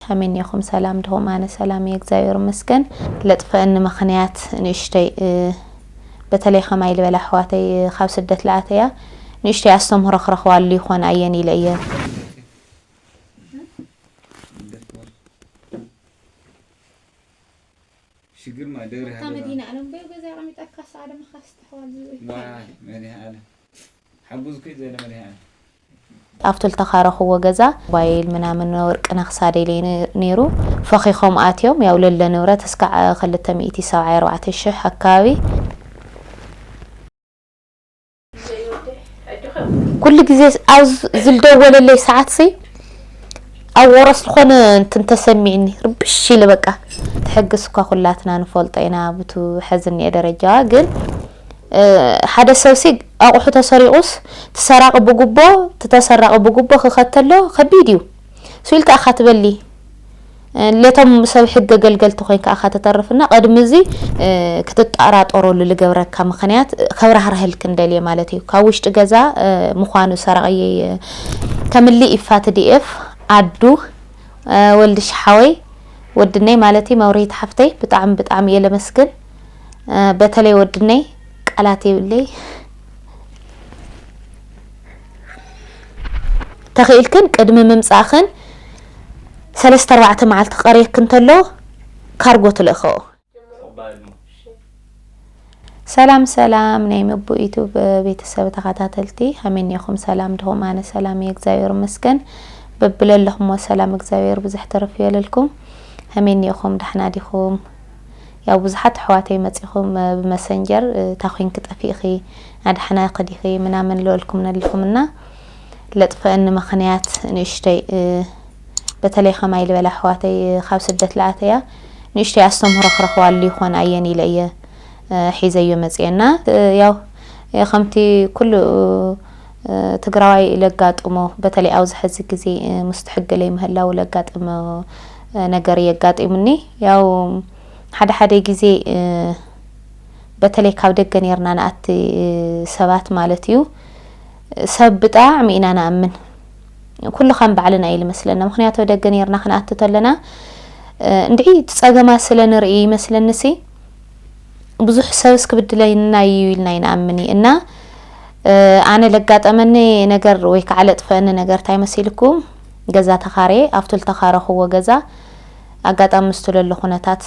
ከመይ እኔኹም ሰላም ድኹም ኣነ ሰላም እየ እግዚኣብሔር ይመስገን ለጥፈእኒ ምኽንያት ንእሽተይ በተለይ ከማይ ልበላ ኣሕዋተይ ካብ ስደት ልኣተያ ንእሽተይ ኣስተምህሮ ክረኽባሉ ይኾን ኣየን ኢለ እየ ሽግር ማ ደብረ ሃለዋ መዲና ኣለም በዩ ገዛ ኣቀሚጣ ካሳ ኣደመ ካስ ተሕዋል ዝብኢ ዋይ መድሃ ኣለም ሓጉዝኪ ዘይነመሪሃ እያ። ኣብቲ ልተካረክዎ ገዛ ሞባይል ምናምን ወርቂ ናይ ክሳደይ ለይ ነይሩ ፈኪኮም ኣትዮም ያው ለለ ንብረት እስካዕ ክልተ ሚእቲ ሰብዓይ ኣርባዕተ ሽሕ ኣካባቢ። ኩሉ ግዜ ኣብ ዝልደወለለይ ሰዓት ሲ ኣብ ወረስ ልኮነ እንትን ተሰሚዕኒ ርብሽ ኢለ በቃ ትሕግስ እኳ ኩላትና ንፈልጦ ኢና ብቱ ሐዚ እኒኤ ደረጃዋ ግን ሓደ ሰብሲ ኣቁሑ ተሰሪቁስ ትሰራቂ ብጉቦ ትተሰራቂ ብጉቦ ክከተሎ ከቢድ እዩ ስል ከኣ እካ ትበሊ ለቶም ሰብ ሕገ ገልገልቲ ኮይንካ እካ ትተርፍ እና ቀድሚ እዚ ክትጣራጠሮሉ ልገብረካ ምክንያት ከብራህረህል ክንደልየ ማለት እዩ ካብ ውሽጢ ገዛ ምኳኑ ሰራቅየይ ከምሊ ኢፋ ትዲኤፍ ኣዱ ወልድሽ ሓወይ ወድነይ ማለት እዩ መብርሂት ሓፍተይ ብጣዕሚ ብጣዕሚ እየ ለመስግን በተለይ ወድነይ ቃላት የብለይ ተኽኢልክን ቅድሚ ምምፃእኽን ሰለስተ ኣርባዕተ መዓልቲ ቀርየክ እንተሎ ካርጎ ትልእኸኦ ሰላም ሰላም ናይ ምቡ ዩቱብ ቤተሰብ ተኸታተልቲ ኣሜን ኢኹም ሰላም ድኹም ኣነ ሰላም እየ እግዚኣብሔር መስገን በብለለኹምዎ ሰላም እግዚኣብሔር ብዙሕ ተረፍ የለልኩም ኣሜን ኢኹም ዳሕና ዲኹም ያው ብዙሓት ኣሕዋተይ መጺኹም ብመሰንጀር እታ ኮንኪ ጠፊእኺ ናዳሕናኺ ዲኺ ምናምን ልበልኩም ነለኹም እና ለጥፈእኒ መኽንያት ንእሽተይ በተለይ ከማይ ልበላ ኣሕዋተይ ካብ ስደት ልኣተያ ንእሽተይ ኣስተምህሮ ክረኽባሉ ይኾን ኣየን ኢለ እየ ሒዘዮ መጽየ እና ያው ከምቲ ኩሉ ትግራዋይ ለጋጥሞ በተለይ ኣብዚ ሕዚ ግዜ ምስቲ ሕጊ ለይምህላው ለጋጥም ነገር የጋጢሙኒ ያው ሓደ ሓደ ግዜ በተለይ ካብ ደገ ኔርና ንኣቲ ሰባት ማለት እዩ ሰብ ብጣዕሚ ኢና ንኣምን ኩሉ ከም ባዕልና እዩ ልመስለና ምክንያቱ ደገ ኔርና ክንኣቲ ተለና እንድዒ እቲ ጸገማት ስለ ንርኢ ይመስለኒሲ ብዙሕ ሰብስ ክብድለና እዩ ኢልና ይንኣምን እዩ እና ኣነ ለጋጠመኒ ነገር ወይ ከዓ ለጥፈአኒ ነገር እንታይ መሲልኩም ገዛ ተኻረየ፣ ኣብቱ ልተኻረኹዎ ገዛ ኣጋጣሚ ምስቱ ለሎ ኩነታት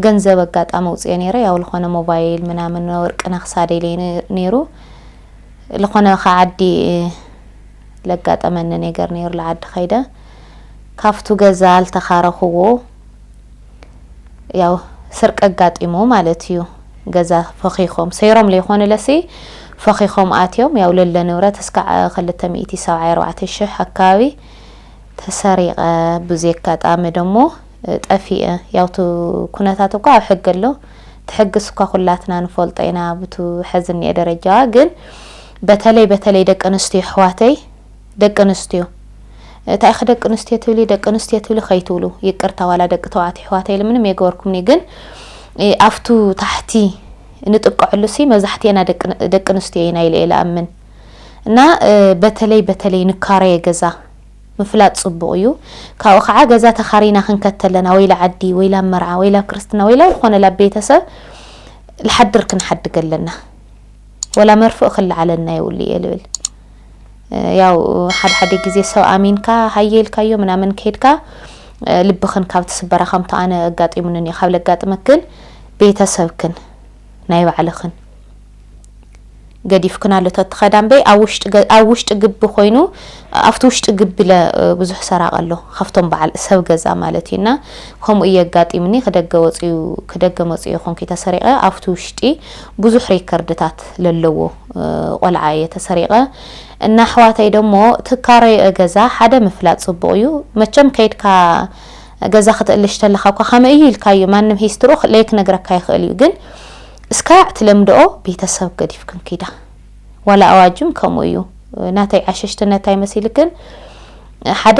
ገንዘብ ኣጋጣሚ ኣውፅኤ ነይረ፣ ያው ልኾነ ሞባይል ምናምን ወርቂ ናይ ክሳደይ ለይ ነይሩ፣ ልኾነ ካብ ዓዲ ለጋጠመኒ ነገር ነይሩ ልዓዲ ከይደ ካብቱ ገዛ ልተኻረኹዎ፣ ያው ስርቂ ኣጋጢሙ ማለት እዩ ገዛ ፈኺኾም ሰይሮም ለይኾኑለሲ ፈኺኾም ኣትዮም ያው ለለ ንብረት እስካዕ ክልተ ሚእቲ ሰብዓይ ኣርባዕተ ሽሕ ኣካባቢ ተሰሪቐ ብዙይ ኣጋጣሚ ደሞ ጠፊኤ ያውቱ ኩነታት እኳ ኣብ ሕጊ ኣሎ ትሕግስ እኳ ኩላትና ንፈልጦ ኢና ብቱ ሐዚ እኒኤ ደረጃዋ ግን በተለይ በተለይ ደቂ ኣንስትዮ ኣሕዋተይ ደቂ ኣንስትዮ ታይ ኢኺ ደቂ ኣንስትዮ ትብሊ ደቂ ኣንስትዮ ትብሊ ከይትብሉ ይቅርታ ዋላ ደቂ ተባዕትዮ ኣሕዋተይ ኢለ ምንም የገበርኩምኒ ግን ኣብቱ ታሕቲ ንጥቀዐሉ ሲ መብዛሕትኤና ደቂ ኣንስትዮ ኢና ኢለ እየ ልኣምን እና በተለይ በተለይ ንካረየ ገዛ ምፍላጥ ፅቡቅ እዩ ካብኡ ከዓ ገዛ ተካሪና ክንከድ ተለና ወይ ልዓዲ ወይ ላብ መርዓ ወይ ላብ ክርስትና ወይ ላብ ልኮነ ላብ ቤተሰብ ልሓድር ክንሓድግ ኣለና ወላ መርፍእ ክልዓለና የብሉ እየ ልብል ያው ሓደ ሓደ ግዜ ሰብ ኣሚንካ ሃየ ኢልካዮ ምናምን ከድካ ልብክን ካብ ትስበራ ከምቶ ኣነ ኣጋጢሙኒ ን ካብ ለጋጥመክን ቤተሰብክን ናይ ባዕልክን ገዲፍክን ኣሎ ተትኸዳ እምበይ ኣብ ውሽጢ ግቢ ኮይኑ ኣብቲ ውሽጢ ግቢ ለ ብዙሕ ሰራቅ ኣሎ ካብቶም በዓል ሰብ ገዛ ማለት እዩ እና ከምኡ እየ ኣጋጢምኒ ክደገ ወፅኡ ክደገ መፅኡ ይኮንኩ ተሰሪቀ ኣብቲ ውሽጢ ብዙሕ ሪከርድታት ለለዎ ቆልዓ እየ ተሰሪቀ እና ኣሕዋተይ ደሞ ትካረዩ እገዛ ሓደ ምፍላጥ ፅቡቅ እዩ መቸም ከይድካ ገዛ ክትእልሽ ተለካ እኳ ከመይ እዩ ኢልካዩ ማንም ሂስትሮ ለይክነግረካ ይክእል እዩ ግን እስካዕ ትለምድኦ ቤተሰብ ገዲፍክን ኪዳ ዋላ ኣዋጅም ከምኡ እዩ ናተይ ዓሸሽትነት ኣይመሲልክን ሓደ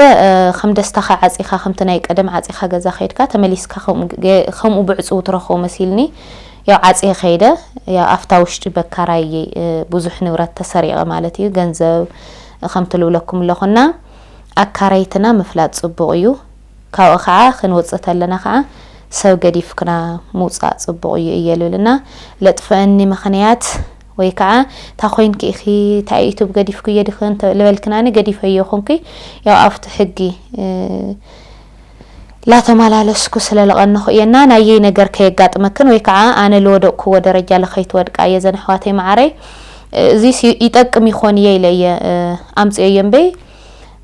ከም ደስታካ ዓፂካ ከምቲ ናይ ቀደም ዓፂካ ገዛ ከይድካ ተመሊስካ ከምኡ ብዕፅው ትረክቦ መሲልኒ ያው ዓጽየ ከይደ ያው ኣፍታ ውሽጢ በካራይ እየ ብዙሕ ንብረት ተሰሪቀ ማለት እዩ ገንዘብ ከምቲ ልብለኩም ኣለኩ እና ኣካረይትና ምፍላጥ ጽቡቅ እዩ ካብኡ ከኣ ክንውጽእ ተለና ከኣ ሰብ ገዲፍክና ምውጻእ ጽቡቅ እዩ እየ ልብል እና ለጥፈእኒ ምክንያት ወይ ከኣ እታ ኮይንኪ ኢኪ እታ ዩቱብ ገዲፍኩ እየ ድክ ልበልክናኒ ገዲፈዮ ኩንኩ ያው ኣፍቱ ሕጊ ላተማላለስኩ ስለ ለቐነኹ እየ እና ናየይ ነገር ከየጋጥመክን ወይ ካዓ ኣነ ልወደቕኩዎ ደረጃ ለከይትወድቃ እየ ዘን ኣሕዋተይ ማዓረይ እዙይስ ይጠቅም ይኾን እየ ኢለ እየ ኣምፅኤዮ እምበይ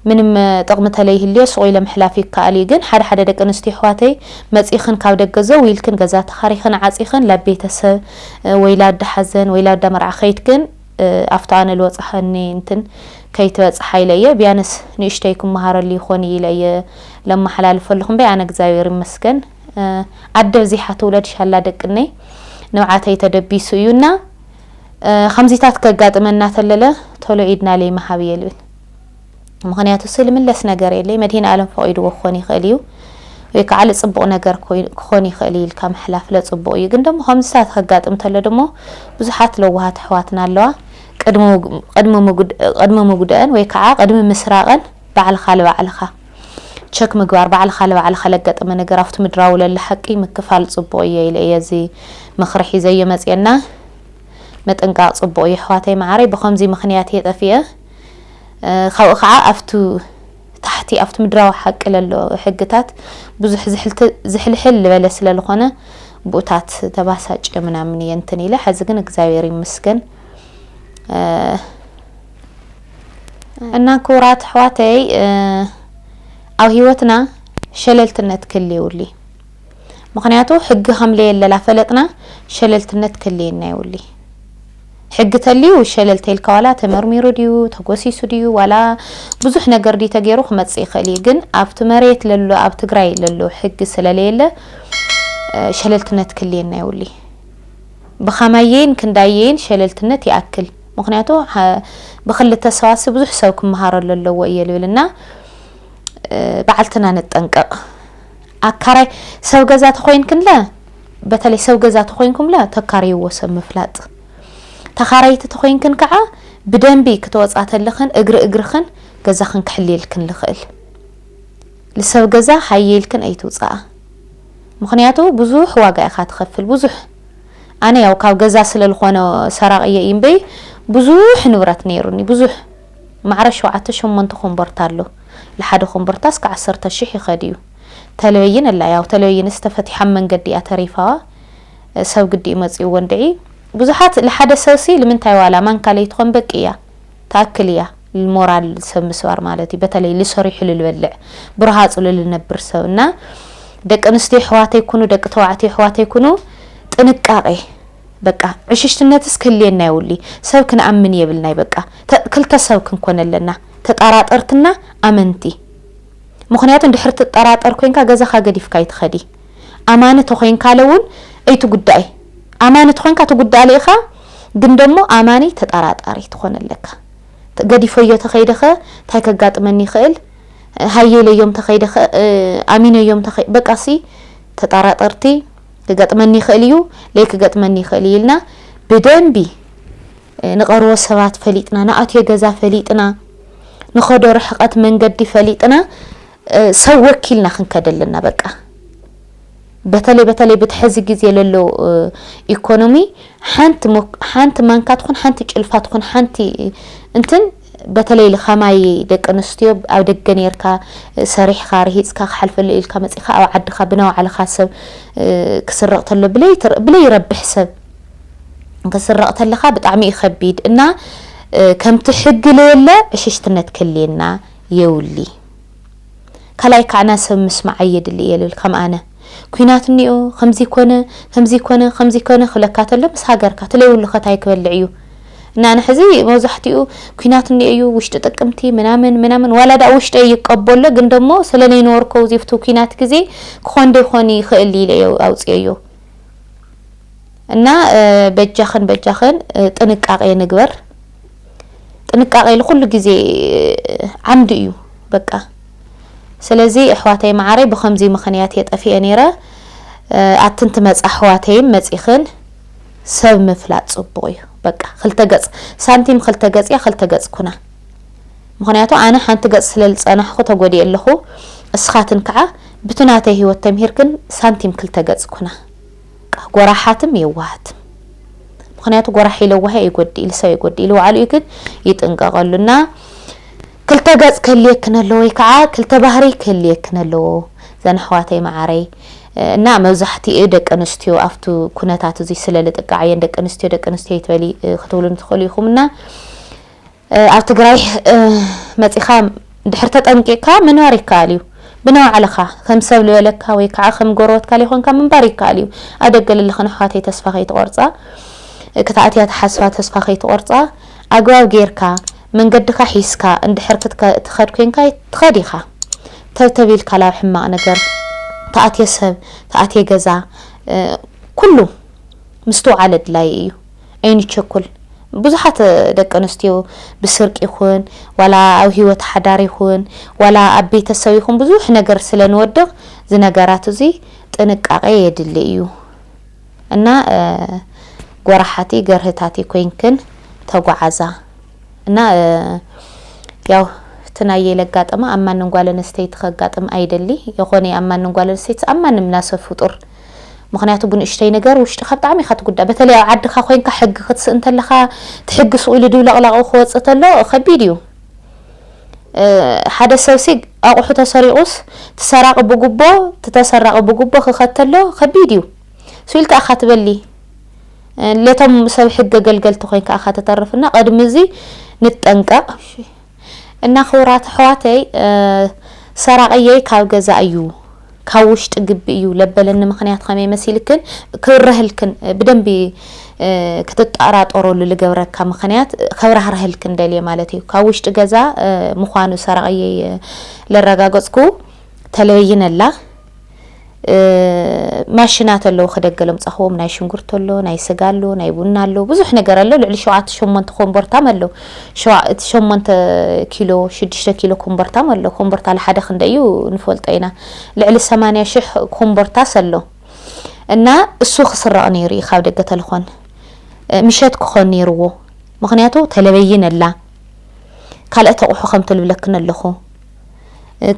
ምንም ጥቕሚ ተለይህልዮ ሱቕ ኢለ ምሕላፍ ይካኣል እዩ ግን ሓደ ሓደ ደቂ ኣንስትዮ ኣሕዋተይ መፂእኽን ካብ ደገ ዘው ኢልክን ገዛ ተኻሪኽን ዓፂኽን ላብ ቤተሰብ ወይ ላዳ ሓዘን ወይ ላዳ መርዓ ከይድክን ኣፍቲ ኣነ ልወጸኸኒ እንትን ከይትበጽሓ ኢለ እየ ቢያንስ ንእሽተይ ክመሃረሉ ይኾን እዩ ኢለ እየ ለማሓላልፈልኹ እምበይ ኣነ እግዚኣብሔር ይመስገን ኣደ ብዚሓ ትውለድ ሻላ ደቅነይ ንብዓተይ ተደቢሱ እዩ እና ከምዚታት ከጋጥመና ተለለ ቶሎ ኢድና ለይምሃብ እየ ልብል። ምኽንያቱሲ ልምለስ ነገር የለይ መድሂንኣለም ፈቂድዎ ክኾን ይኽእል እዩ ወይ ካዓ ልፅቡቅ ነገር ክኾን ይኽእል እዩ ኢልካ ምሕላፍ ለፅቡቅ እዩ ግን ደሞ ከምዚታት ከጋጥም ተሎ ደሞ ብዙሓት ለዋሃት ኣሕዋትና ኣለዋ ቅድሚ ምጉደእን ወይ ካዓ ቅድሚ ምስራቀን ባዕልኻ ልባዕልኻ ቸክ ምግባር ባዕልኻ ልባዕልኻ ለገጠመ ነገር ኣፍቲ ምድራዊ ለሎ ሓቂ ምክፋል ፅቡቅ እየ ኢለ እየ እዚ ምኽሪ ሒዘዮ መፅየና ምጥንቃቅ ፅቡቅ እዩ ኣሕዋተይ ማዓረይ ብኸምዙይ ምኽንያት እየ ጠፊኤ ካብኡ ከኣ ኣብቱ ታሕቲ ኣብቱ ምድራዊ ሓቂ ለሎ ሕግታት ብዙሕ ዝሕልት ዝሕልሕል ልበለ ስለ ልኾነ ብኡታት ተባሳጭ እየ ምናምን እየ እንትን ኢለ ሐዚ ግን እግዚኣብሔር ይምስገን እና ክቡራት ኣሕዋተይ ኣብ ህይወትና ሸለልትነት ክህሊ ይውሊ ምክንያቱ ሕጊ ከምለየለላ ፈለጥና ሸለልትነት ክህልየና ይውሊ ሕጊ ተልዩ ሸለል ተይልካ ዋላ ተመርሚሩ ድዩ ተጎሲሱ ድዩ ዋላ ብዙሕ ነገር ድዩ ተገይሩ ክመጽእ ይክእል እዩ ግን ኣብቲ መሬት ለሎ ኣብ ትግራይ ለሎ ሕጊ ስለለየለ ሸለልትነት ክልየና የውሊ ብኸማየይን ክንዳየይን ሸለልትነት ይኣክል ምክንያቱ ብክልተ ሰዋሲ ብዙሕ ሰብ ክመሃረሉ ኣለዎ እየ ልብል እና በዓልትና ንጠንቀቕ ኣካራይ ሰብ ገዛ ተኮይንክንለ በተለይ ሰብ ገዛ ተኾይንኩምላ ተካርይዎ ሰብ ምፍላጥ ተኻራይቲ ተኾይንክን ከዓ ብደንቢ ክትወፃ ተለኽን እግሪ እግርኽን ገዛኽን ክሕልየልክን ልኽእል ልሰብ ገዛ ሃየ ኢልክን ኣይትውፃኣ ምኽንያቱ ብዙሕ ዋጋ ኢኻ ትኸፍል ብዙሕ ኣነ ያው ካብ ገዛ ስለ ዝኾነ ሰራቂ እየ እምበይ ብዙሕ ንብረት ነይሩኒ ብዙሕ ማዕረ ሸውዓተ ሸሞንተ ኮምቦርታ ኣሎ ልሓደ ኮምቦርታ እስከ ዓሰርተ ሽሕ ይኸድ እዩ ተለበይን ኣላ ያው ተለበይንስ ተፈቲሓ ብ መንገዲ እያ ተሪፋ ሰብ ግዲኡ መጺኡዎ እንድዒ ብዙሓት ልሓደ ሰብሲ ልምንታይ ዋላ ማንካ ለይትኾን በቂ እያ ትኣክል እያ ልሞራል ሰብ ምስባር ማለት እዩ በተለይ ልሰሪሑ ልልበልዕ ብረሃጹ ልልነብር ሰብ እና ደቂ ኣንስትዮ ኣሕዋተይ ኩኑ ደቂ ተባዕትዮ ኣሕዋተይ ኩኑ ጥንቃቄ በቃ ዕሽሽትነትስ ክህልየና የውሊ ሰብ ክንኣምን የብልናይ በቃ ክልተ ሰብ ክንኮን ኣለና ተጣራጠርትና ኣመንቲ ምኽንያቱ እንድሕር ትጠራጠር ኮንካ ገዛኻ ገዲፍካ ኣይትኸዲ ኣማኒ ተኾንካለ እውን ኣይትጉዳኢ ኣማኒ ተኾንካ ትጉዳኣለ ኢኻ ግን ደሞ ኣማኒ ተጠራጣሪ ትኾን ኣለካ ገዲፈዮ ተኸይደኸ እንታይ ከጋጥመኒ ይኽእል ሃየ ኢለዮም ተኸይደኸ ኣሚነዮም ተኸይ በቃሲ ተጠራጠርቲ ክገጥመኒ ይኽእል እዩ ለይ ክገጥመኒ ይኽእል እዩ ኢልና ብደንቢ ንቐርቦ ሰባት ፈሊጥና፣ ንኣትዮ ገዛ ፈሊጥና፣ ንኸዶ ርሕቐት መንገዲ ፈሊጥና ሰብ ወኪልና ክንከድ ኣለና በቃ። በተለይ በተለይ ብቲ ሕዚ ግዜ ለሎ ኢኮኖሚ ሓንቲ ሓንቲ ማንካ ትኹን ሓንቲ ጭልፋ ትኹን ሓንቲ እንትን በተለይ ኸማይ ደቂ ኣንስትዮ ኣብ ደገ ኔርካ ሰሪሕኻ ርሂጽካ ክሓልፈሉ ኢልካ መጺኻ ኣብ ዓድኻ ብናዋዕልኻ ሰብ ክስረቕ ተሎ ብለይ ብለይ ረብሕ ሰብ ክስረቕ ተለኻ ብጣዕሚ እዩ ከቢድ እና ከምቲ ሕጊ ለየለ ዕሽሽትነት ከልየና የውሊ ካላይ ካዕና ሰብ ምስማዕ ኣየድሊ እየ ልብል ከም ኣነ ኩናት እኒኦ ከምዚ ኮነ ከምዚ ኮነ ከምዚ ኮነ ክብለካ ተሎ ምስ ሃገርካ ትለይውሉ ከ ታይ ክበልዕ እዩ እና ንሕዚ መብዛሕቲኡ ኩናት እኒኦ እዩ ውሽጢ ጥቅምቲ ምናምን ምናምን ዋላ ዳኣ ውሽጠይ ይቀበሎ ግን ደሞ ስለ ነይንወርኮ ውዚፍቱ ኩናት ግዜ ክኾን ዶ ይኾን ይኽእል ኢለ እየ ኣውፅኤዮ እና በጃኽን በጃኽን ጥንቃቄ ንግበር ጥንቃቄ ልኩሉ ግዜ ዓምዲ እዩ በቃ ስለዚ እሕዋተይ ማዓረይ ብከምዙይ ምክንያት እየ ጠፊኤ ነይረ ኣትን ትመፃ ኣሕዋተይን መፂክን ሰብ ምፍላጥ ፅቡቅ እዩ በቃ ክልተ ገፅ ሳንቲም ክልተ ገፅ እያ ክልተ ገፅ ኩና ምክንያቱ ኣነ ሓንቲ ገፅ ስለልፀናሕኩ ተጎዲኤ ኣለኩ እስካትን ከዓ ብቲ ናተይ ሂወት ተምሂርክን ሳንቲም ክልተ ገፅ ኩና ጎራሓትም የዋሃትም ምክንያቱ ጎራሒ ለዋሂ ኣይጎድእ ኢሉ ሰብ ኣይጎድእ ኢሉ ባዕሉ እዩ ግን ይጥንቀቀሉ እና ክልተ ገጽ ክህልየክን ኣለዎ ወይ ከኣ ክልተ ባህሪ ክህልየክን ኣለዎ ዘን ኣሕዋተይ መዓረይ እና መብዛሕቲኡ ደቂ ኣንስትዮ ኣብቱ ኩነታት እዙይ ስለ ልጥቃዕ እየን ደቂ ኣንስትዮ ደቂ ኣንስትዮ ይትበሊ ክትብሉን ትኽእሉ ኢኹም እና ኣብ ትግራይ መጺኻ ድሕር ተጠንቂቕካ ምንባር ይከኣል እዩ ብናባዕልኻ ከም ሰብ ልበለካ ወይ ከዓ ከም ጎረበትካ ሊኾንካ ምንባር ይከኣል እዩ ኣብ ደገ ልልኽን ኣሕዋተይ ተስፋ ከይትቆርፃ ክትኣትያ ተሓስባ ተስፋ ከይትቆርፃ ኣግባብ ጌርካ መንገድካ ሒዝካ እንድሕር ክትከድ ኮንካ ትከድ ኢካ ተብተብ ኢልካ ላብ ሕማቅ ነገር ተኣትየ ሰብ ተኣትየ ገዛ ኩሉ ምስትውዓል ኣድላይ እዩ ኣይንቸኩል ብዙሓት ደቂ ኣንስትዮ ብስርቂ ይኹን ዋላ ኣብ ሂወት ሓዳር ይኹን ዋላ ኣብ ቤተሰብ ይኹን ብዙሕ ነገር ስለ ንወድቅ ዝነገራት እዙይ ጥንቃቄ የድሊ እዩ። እና ጎራሓቲ ገርህታቲ ኮይንክን ተጓዓዛ እና ያው እቲ ናየይ ለጋጠማ ኣብ ማንም ጓል ኣንስተይቲ ከጋጥም ኣይደሊ የኾነ ኣብ ማንም ጓል ኣንስተይቲ ኣብ ማንም ናሰብ ፍጡር ምክንያቱ ብንእሽተይ ነገር ውሽጥካ ብጣዕሚ ኢካ ትጉዳእ በተለይ ኣብ ዓድካ ኮይንካ ሕጊ ክትስእን ተለካ እቲ ሕጊ ሱቅ ኢሉ ድብለቅላቁ ክወጽእ ተሎ ከቢድ እዩ ሓደ ሰብሲ ኣቁሑ ተሰሪቁስ ትሰራቂ ብጉቦ ትተሰራቂ ብጉቦ ክከተሎ ከቢድ እዩ ሱእ ኢልካ እካ ትበሊ ለቶም ሰብ ሕገ ገልገልቲ ኮይንካ እካ ተተርፍ እና ቀድሚ እዚ ንጠንቀቅ እና ክብራት ኣሕዋተይ ሰራቅየይ ካብ ገዛ እዩ ካብ ውሽጢ ግቢ እዩ ለበለኒ ምክንያት ከመይ መሲልክን ክብረህልክን ብደንቢ ክትጣራጠሮሉ ልገብረካ ምክንያት ከብራህረህልክን ደልየ ማለት እዩ ካብ ውሽጢ ገዛ ምኳኑ ሰራቅየይ ለረጋገፅኩ ተለበይን ኣላ ማሽናት ኣለዉ ክደገ ለምፃኹዎም ናይ ሽንጉርቲ ኣሎ ናይ ስጋ ኣሎ ናይ ቡና ኣሎ ብዙሕ ነገር ኣሎ ልዕሊ ሸውዓተ ሸሞንተ ኮምቦርታም ኣሎ ሸዋ እቲ ሸሞንተ ኪሎ ሽዱሽተ ኪሎ ኮምቦርታም ኣሎ ኮምቦርታ ለሓደ ክንደ እዩ ንፈልጦ ኢና ልዕሊ ሰማንያ ሽሕ ኮምቦርታ ሰሎ እና እሱ ክስረቕ ነይሩ እዩ ካብ ደገ ተልኾን ምሸት ክኾን ነይርዎ ምክንያቱ ተለበይን ኣላ ካልእ ተቑሑ ከም ትልብለክን ኣለኹ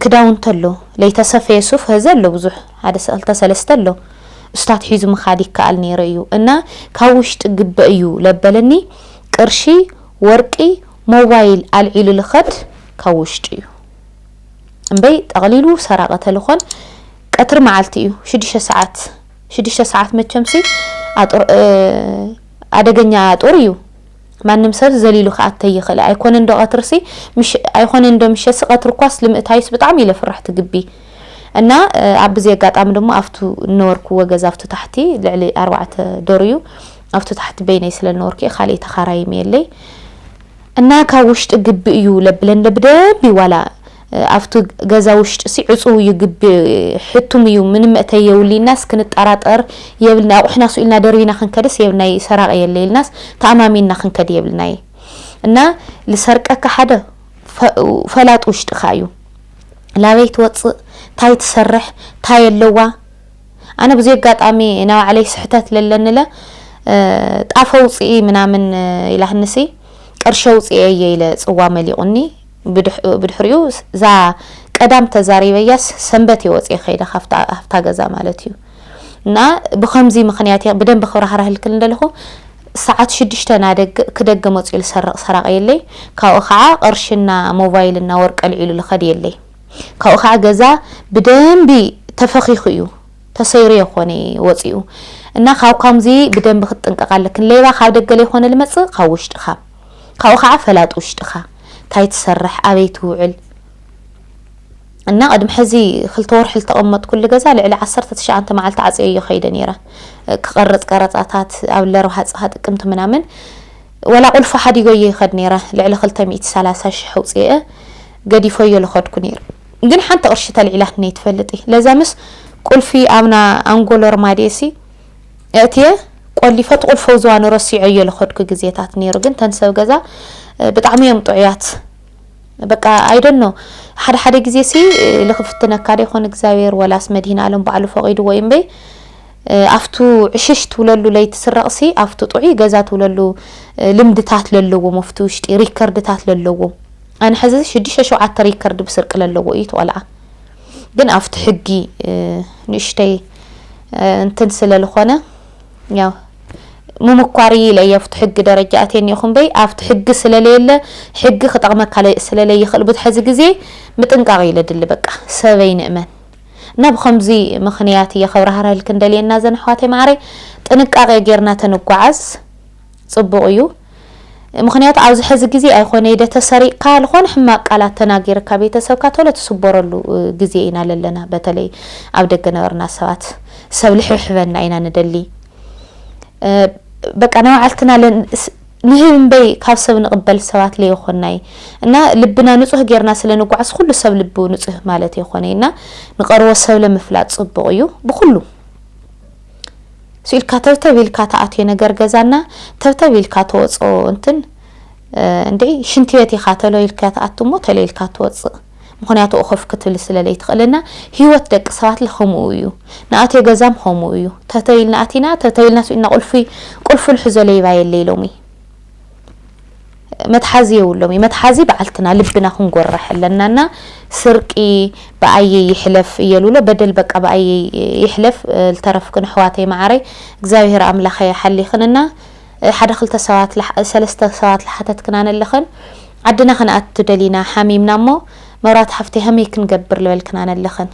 ክዳውንቲ ኣሎ ለይተሰፈየ ሱፍ ሀዚ ኣሎ ብዙሕ ሓደ ሰክልተ ሰለስተ ኣሎ እሱታት ሒዙ ምካድ ይከኣል ነይሩ እዩ እና ካብ ውሽጢ ግበ እዩ ለበለኒ ቅርሺ ወርቂ ሞባይል ኣልዒሉ ልከድ ካብ ውሽጢ እዩ እምበይ ጠቅሊሉ ሰራቂ ተልኮን ቀትሪ መዓልቲ እዩ ሽዱሽተ ሰዓት ሽዱሽተ ሰዓት መቸምሲ ኣደገኛ ኣጡር እዩ ማንም ሰብ ዘሊሉ ክኣተይ ይኽእል'ዩ ኣይኮነን ዶ ቀትርሲ ምሽ ኣይኮነን ዶ ምሸትሲ ቀትሪ እኳስ ልምእታዩስ ብጣዕሚ ኢለ ፍራሕ ትግቢ እና ኣብዚ ኣጋጣሚ ደሞ ኣብቱ እነበርኩዎ ገዛ ኣብቱ ታሕቲ ልዕሊ ኣርባዕተ ዶር እዩ ኣብቱ ታሕቲ በይነይ ስለ እነበርኩ እየ ካልእ ተኻራይም የለይ እና ካብ ውሽጢ ግቢ እዩ ለብለን ለብደንቢ ዋላ ኣብቱ ገዛ ውሽጢሲ ዕጹው እዩ ግቢ ሕቱም እዩ ምንም መእተይ የውሊ ኢልናስ ክንጣራጠር የብልና ኣቁሕና ሱቅ ኢልና ደርቢና ክንከድስ የብልናይ ሰራቂ የለ ኢልናስ ተኣማሚንና ክንከድ የብልናይ እና ልሰርቀካ ሓደ ፈላጥ ውሽጥካ እዩ ላበይ ትወጽእ ታይ ትሰርሕ ታይ ኣለዋ ኣነ ብዙይ ኣጋጣሚ ናባዕለይ ስሕተት ለለንለ ጣፈ ውፅኢ ምናምን ኢላህንሲ ቅርሸ ውፅኤ እየ ኢለ ፅዋ መሊቁኒ ብድሕሪኡ እዛ ቀዳም ተዛሪበያስ ሰንበት እየ ወፅየ ከይደ ካብታ ገዛ ማለት እዩ እና ብከምዚ ምክንያት እየ ብደንብ ክብራህራህልክል እንደለኹ ሰዓት ሽዱሽተ ናደግ ክደገ መፅኡ ልሰርቕ ሰራቂ የለይ ካብኡ ከዓ ቅርሽና ሞባይልና ወርቂ ኣልዒሉ ልኸድ የለይ ካብኡ ከዓ ገዛ ብደንቢ ተፈኺኹ እዩ ተሰይሩ የኮነ ወፂኡ እና ካብ ከምዚ ብደንቢ ክትጥንቀቕ ኣለክን ሌባ ካብ ደገ ለይኮነ ልመፅእ ካብ ውሽጥኻ ካብኡ ካዓ ፈላጥ ውሽጥኻ ታይ ትሰርሕ ኣበይ ትውዕል እና ቅድሚ ሐዚ ክልተ ወርሒ ልተቀመጥኩሉ ገዛ ልዕሊ ዓሰርተ ትሽዓንተ ማዓልቲ ዓፅየዮ ከይደ ነይረ ክቀርፅ ቀረፃታት ኣብ ለርብሃ ፅሃ ጥቅምቲ ምናምን ወላ ቁልፉ ሓዲጎዮ ይኸድ ነይረ ልዕሊ ክልተ ሚእቲ ሰላሳ ሽሕ ኣውፅኤ ገዲፎዮ ልኸድኩ ነይረ ግን ሓንቲ ቅርሺ ተልዒላትኒ ኣይትፈልጥ ለዛ ምስ ቁልፊ ኣብና ኣንጎሎ ርማዴ ሲ ኣእትየ ቆሊፈ ትቁልፈው ዝዋኑ ረሲዖዮ ልኸድኩ ግዜታት ኔሩ ግን ተን ሰብ ገዛ ብጣዕሚ እዮም ጥዑያት በቃ ኣይደኖ ሓደ ሓደ ግዜ ሲ ልክፍትነካ ዶ ይኮን እግዚኣብሔር ወላስ መድሂን ኣለም ባዕሉ ፈቂድዎ እዩ እምበይ ኣብቱ ዕሽሽ ትብለሉ ለይቲ ስረቕሲ ኣብቱ ጥዑይ ገዛ ትብለሉ ልምድታት ለለዎም ኣብቲ ውሽጢ ሪከርድታት ለለዎም ኣነ ሕዚ ሽዱሽተ ሸውዓተ ሪከርድ ብስርቂ ለለዎ እዩ ተቆልዓ ግን ኣብቲ ሕጊ ንእሽተይ እንትን ስለ ዝኾነ ያው ምምኳር እዩ ኢለ ኣብቲ ሕጊ ደረጃ ኣትየ እኒኦኹ እምበይ ኣብቲ ሕጊ ስለለየለ ሕጊ ክጠቕመካ ስለለይኽእል ብዙሕ ሕዚ ግዜ ምጥንቃቕ እዩ ለድሊ በቃ ሰበይ ንእመን እና ብከምዚ ምክንያት እየ ከብራህርህልክን ደልየና ዘን ኣሕዋተይ ማዕረይ ጥንቃቄ ጌርና ተንጓዓዝ ጽቡቅ እዩ ምክንያቱ ኣብዚ ሐዚ ግዜ ኣይኮነ ኢደ ተሰሪቅካ ልኮነ ሕማቅ ቃላት ተናጊርካ ቤተሰብካ ቶሎ ትስቦረሉ ግዜ ኢና ለለና በተለይ ኣብ ደገ ነበርና ሰባት ሰብ ልሕብሕበና ኢና ንደሊ በቃ ናባዓልትና ንህብ እምበይ ካብ ሰብ ንቅበል ሰባት ለይኮናይ እና ልብና ንጹህ ጌርና ስለ ንጓዓዝ ኩሉ ሰብ ልቡ ንጹህ ማለት የኮነ እና ንቀርቦ ሰብ ለምፍላጥ ጽቡቅ እዩ ብኩሉ ስኢልካ ተብተብ ኢልካ ትኣትዮ ነገር ገዛና ተብተብ ኢልካ ትወጾ እንትን እንዴ ሽንትቤት ኢኻ ተሎ ኢልካ ትኣቱ እሞ ተሎ ኢልካ ትወጽእ ምክንያቱ እኸፍ ክትብል ስለ ለይትኽእልና ህይወት ደቂ ሰባትለ ከምኡ እዩ ንኣትዮ ገዛም ከምኡ እዩ ተተው ኢልና ኣቲና ተተው ኢልና ስኢልና ቁልፊ ቁልፊ ልሕዞ ለይባ የለ ኢሎምይ መትሓዚ የውሎም እዩ መትሓዚ ባዓልትና ልብና ክንጎርሕ ኣለና እና ስርቂ ብኣየይ ይሕለፍ እየሉሎ በደል በቃ ብኣየይ ይሕለፍ ልተረፍክን ኣሕዋተይ ማዓረይ እግዚኣብሔር ኣምላከ ይሓሊክን እና ሓደ ክልተ ሰባት ሰለስተ ሰባት ልሓተትክና ነለክን ዓድና ክንኣቱ ደሊና ሓሚምና እሞ መብራት ሓፍተይ ሃመይ ክንገብር ልበልክና ነለክን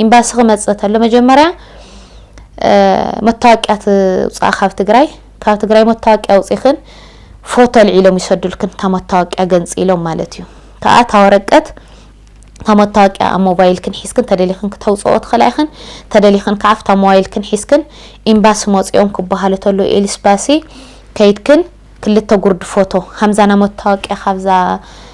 ኢምባሲ ክመፅእ ተሎ መጀመርያ መታወቂያ ትውፃእ ካብ ትግራይ ካብ ትግራይ መታወቅያ ኣውጺኽን ፎቶ ኣልዒሎም ይሰዱልክን እታ መታወቅያ ገንጺሎም ማለት እዩ ከኣ እታ ወረቀት እታ መታወቅያ ኣብ ሞባይልክን ሒዝክን ተደሊኽን ክተውጽኦ ትኽእላ ኢኽን ተደሊኽን ከኣ ኣብታ ሞባይልክን ሒዝክን ኤምባሲ መጽኦም ክበሃሉ ተሎ ኤልስባሲ ከይድክን ክልተ ጉርዲ ፎቶ ሃምዛና መታወቅያ ካብዛ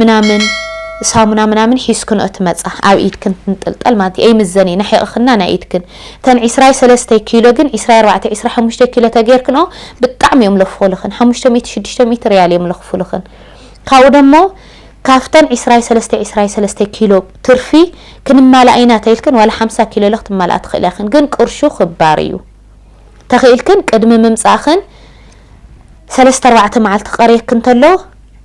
ምናምን ሳሙና ምናምን ሒዝክንኦ ትመጻ ኣብ ኢድክን ትንጥልጠል ማለት እየ ይምዘን እየ ናሒቕክና ናይ ኢድክን እተን ዕስራይ ሰለስተይ ኪሎ ግን ዕስራይ ኣርባዕተ ዕስራ ሓሙሽተ ኪሎ ተገይርክንኦ ብጣዕሚ እዮም ለፍኹልኽን ሓሙሽተ ሚእቲ ሽዱሽተ ሚእቲ ሪያል እዮም ለኽፉልኽን ካብኡ ደሞ ካብተን ዕስራይ ሰለስተ ዕስራይ ሰለስተ ኪሎ ትርፊ ክንማላእ ኢና ተኢልክን ዋላ ሓምሳ ኪሎ ኢለ ክትማላእ ትኽእልያ ክን ግን ቅርሹ ክባር እዩ ተኽኢልክን ቅድሚ ምምጻእኽን ሰለስተ ኣርባዕተ መዓልቲ ክቐርየክን ተሎ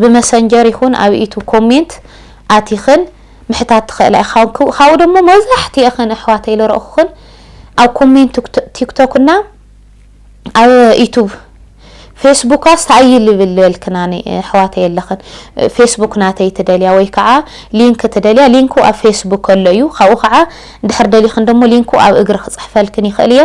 ብመሰንጀር ይኩን ኣብ ዩቱብ ኮሜንት ኣቲክን ምሕታት ትክእላ ኢካ ካብኡ ደሞ መብዛሕቲኤክን ኣሕዋተይ ልረእኩክን ኣብ ኮሜንት ቲክቶክ እና ኣብ ዩቱብ ፌስቡካስ ተኣይ ልብል ልበልክና ኣሕዋተይ ኣለክን ፌስቡክ ናተይ ትደልያ ወይ ከዓ ሊንክ ትደልያ ሊንኩ ኣብ ፌስቡክ ኣሎ እዩ ካብኡ ከዓ እንድሕር ደሊክን ደሞ ሊንኩ ኣብ እግሪ ክፅሕፈልክን ይክእል እየ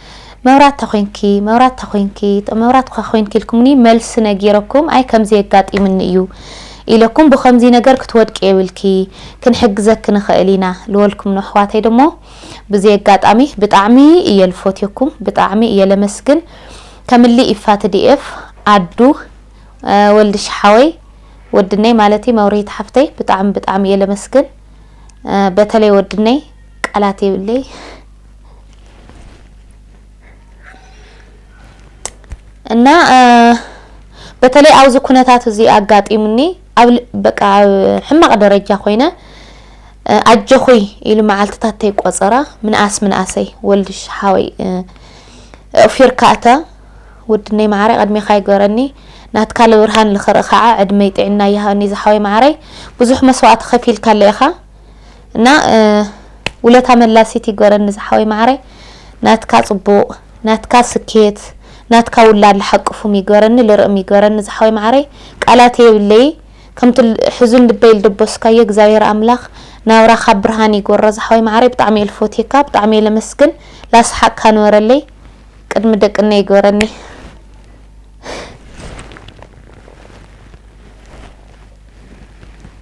መብራት ተኮይንኪ መብራት ተኮይንኪ መብራት እኳ ኮይንኪ ኢልኩምኒ መልሲ ነጊረኩም ኣይ ከምዚ የጋጢምኒ እዩ ኢለኩም ብከምዚ ነገር ክትወድቂ የብልኪ ክንሕግዘኪ ንክእል ኢና ልወልኩም ነሕዋተይ ደሞ ብዚ ኣጋጣሚ ብጣዕሚ እየ ልፎትየኩም ብጣዕሚ እየ ለመስግን ከምሊ ኢፋ ትዲኤፍ ኣዱ ወልድሽ ሓወይ ወድነይ ማለት መብርሂት ሓፍተይ ብጣዕሚ ብጣዕሚ እየ ለመስግን በተለይ ወድነይ ቃላት የብለይ እና በተለይ ኣብዚ ኩነታት እዚ ኣጋጢሙኒ ኣብ በቃ ኣብ ሕማቕ ደረጃ ኮይነ ኣጆኹይ ኢሉ መዓልትታት ተይቆፀረ ምንኣስ ምንኣሰይ ወልድሽ ሓወይ እፊርካ እተ ውድነይ መዓረይ ቀድሜኻ ይገረኒ ናትካ ልብርሃን ልክርኢ ከዓ ዕድመይ ጥዕና ይሃኒ ዝሓወይ መዓረይ ብዙሕ መስዋእቲ ከፊልካለ ኢኻ እና ውለታ መላሲት ይግበረኒ ዝሓወይ ማዓረይ ናትካ ፅቡቅ ናትካ ስኬት ናትካ ውላድ ልሓቅፉም ይግበረኒ ልርእም ይግበረኒ ዝሓወይ ማዓረይ ቃላት የብለይ ከምቲ ሕዙን ልበይ ልደበስካዮ እግዚኣብሔር ኣምላክ ናብራካ ብርሃን ይግበሮ ዝሓወይ ማዓረይ ብጣዕሚ እየ ልፎትየካ ብጣዕሚ እየ ለመስግን ላስሓቅካ ንበረለይ ቅድሚ ደቅነ ይግበረኒ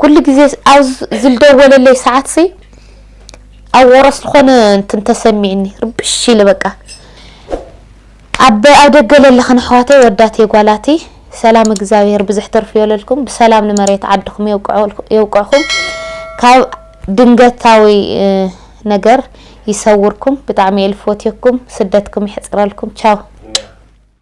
ኩሉ ግዜ ኣብ ዝልደወለለይ ሰዓት ሲ ኣብ ወረስ ዝኾነ እንትን ተሰሚዕኒ ርብሽ ኢለ በቃ ኣብ ኣብ ደገ ለለኽን ኣሕዋተይ ወዳት የጓላቲ ሰላም እግዚኣብሔር ብዙሕ ትርፊ የለልኩም ብሰላም ንመሬት ዓድኹም የውቅዕኹም ካብ ድንገታዊ ነገር ይሰውርኩም ብጣዕሚ የልፎትየኩም ስደትኩም ይሕፅረልኩም ቻው